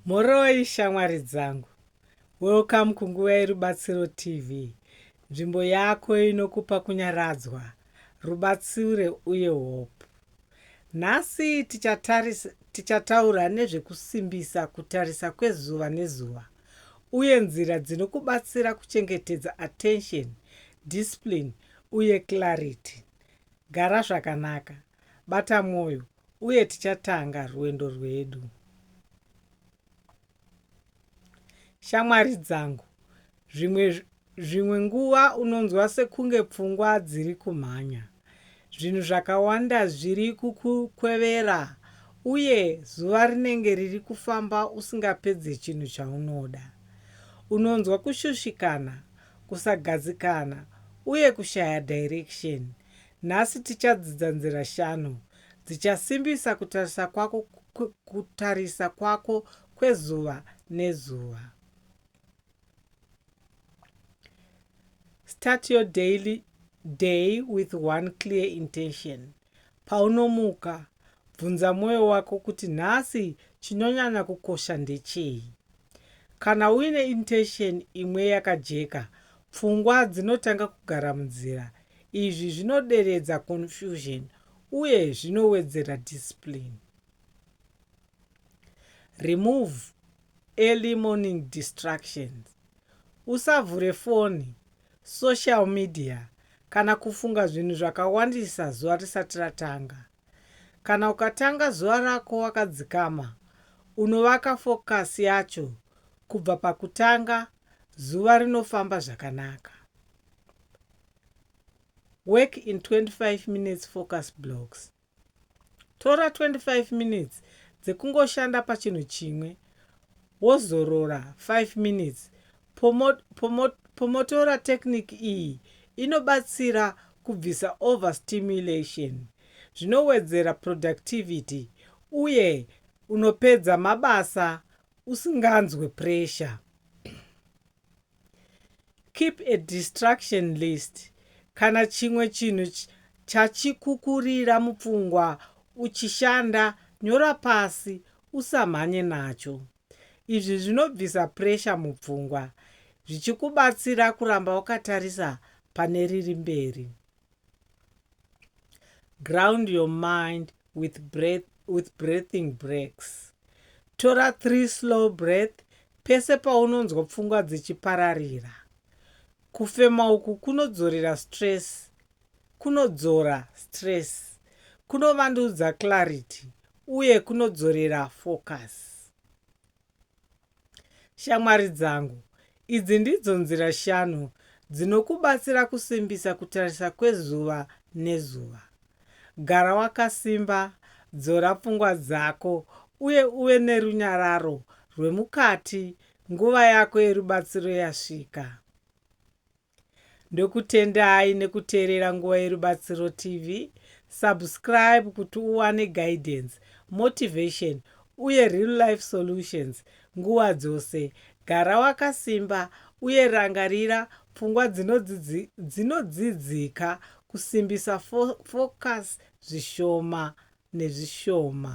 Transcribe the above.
Mhoroi shamwari dzangu. Welcome kunguva yeRubatsiro TV, nzvimbo yako inokupa kunyaradzwa, rubatsire uye hope. Nhasi tichataris, tichataura nezvekusimbisa kutarisa kwezuva nezuva uye nzira dzinokubatsira kuchengetedza attention, discipline uye clarity. Gara zvakanaka, bata mwoyo Uye tichatanga rwendo rwedu. Shamwari dzangu, zvimwe, zvimwe nguva unonzwa sekunge pfungwa dziri kumhanya. Zvinhu zvakawanda zviri kukukwevera, uye zuva rinenge riri kufamba usingapedze chinhu chaunoda. Unonzwa kushushikana, kusagadzikana, uye kushaya direction. Nhasi tichadzidza nzira shanu dzichasimbisa kutarisa kwako kutarisa kwako kwezuva nezuva. Start your daily day with one clear intention. Paunomuka, bvunza mwoyo wako kuti nhasi chinonyanya kukosha ndechei. Kana uine intention imwe yakajeka, pfungwa dzinotanga kugara munzira. Izvi zvinoderedza confusion uye zvinowedzera discipline. Remove early morning distractions. Usavhure foni, social media kana kufunga zvinhu zvakawandisa zuva risati ratanga. Kana ukatanga zuva rako wakadzikama, unovaka fokasi yacho kubva pakutanga, zuva rinofamba zvakanaka. Work in 25 minutes focus blocks. Tora 25 minutes dzekungoshanda pachinhu chimwe wozorora 5 minutes Pomo, pomo, pomotora technique iyi inobatsira kubvisa overstimulation zvinowedzera productivity uye unopedza mabasa usinganzwe pressure. Keep a distraction list kana chimwe chinhu chachikukurira mupfungwa uchishanda, nyora pasi usamhanye nacho. Izvi zvinobvisa puresha mupfungwa zvichikubatsira kuramba wakatarisa pane riri mberi. Ground your mind with breath, with breathing breaks. Tora three slow breath pese paunonzwa pfungwa dzichipararira. Kufema uku kunodzorera stress kunodzora stress, kunovandudza clarity uye kunodzorera focus. Shamwari dzangu, idzi ndidzo nzira shanu dzinokubatsira kusimbisa kutarisa kwezuva nezuva. Gara wakasimba, dzora pfungwa dzako, uye uve nerunyararo rwemukati nguva yako yerubatsiro yasvika. Ndokutendai nekuteerera Nguva Yerubatsiro TV. Subscribe kuti uwane guidance, motivation uye real life solutions nguva dzose. Gara wakasimba uye rangarira pfungwa dzinodzidzi, dzinodzidzika kusimbisa fo, focus zvishoma nezvishoma.